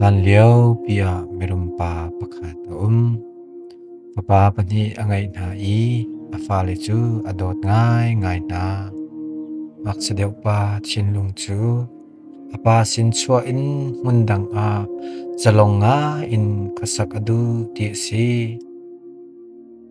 Hlanlio piah mirumpa pakhat a um. Fapa pahnih a ngeih hna i a fale cu a dawt ngaingai hna. Ngakchia deuh pa thinlung cu a pa sin chuah in hmun dang ah zalong ngai in khuasak a duh ti a si.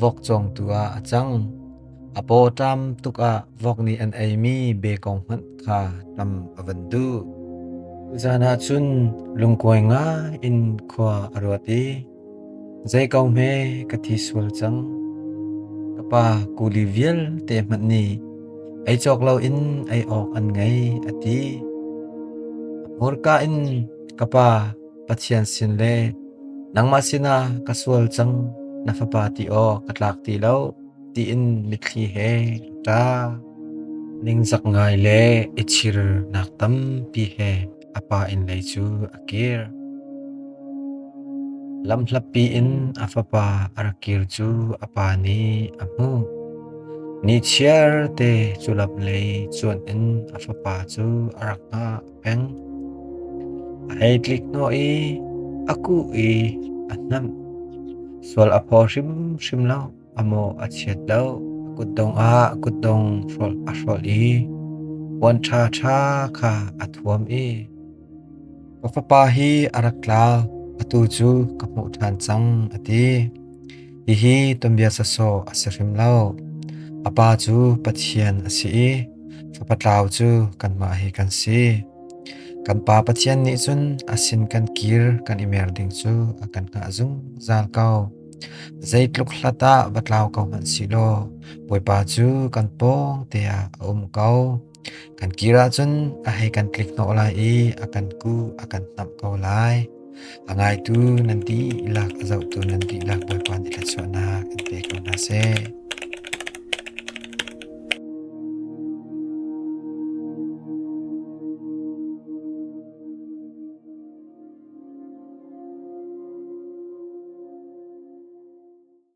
vok cawngtu ah a cang. A paw ṭam tuk ah vok nih an eimi bekong hmanh kha ṭam a van duh. Zan ah cun lungkuai nga in khua a ruat i, Zeiko hme ka thi sual cang. Ka pa kuli vialte hmanh nih ei cawk loin ei awk an ngei a ti. Hmurka in ka pa Pathian sin le nangmah sinah ka sual cang na fapa ti awk ka tlak ti lo tiin mitthli he ṭa ningzak ngai le i chirnak tampi he a pa inn lei cu a kir. Lamhlapi in a fapa a ra kir cu a pa nih a hmuh. Ni chiarte cu lap lei cuan in a fapa cu a rak hngah. peng. Ai tlik hnawh i a kuh i a hnamh. Sual a phaw hrimhrim lo, a maw a chiat lo. Kutdong ah kutdong hrolh a hrolh i puan ṭha ṭha kha a thuam i ka fapa hi a rak tlau, atu cu ka hmuh ṭhan cang, a ti. Hihi tuanbia sawsawh a si hrim lo. A Pa cu Pathian a si i Fapa tlau cu kanmah hi kan si. Kan Pa Pathian nih cun a sin kan kir kan i mer ding cu a kan hngah zungzal ko. Zeitluk hlat ah va tlau ko hmanh sihlaw Bawipa cu kan pawng teah a um ko. Kan kir ahcun a hei kan tlik hnawh lai i a kan kuh a kan hnamh ko lai. A ngaitu nan dihlak a zohtu nan dihlak Bawipa nih thluachuahnak in pe ko hna seh.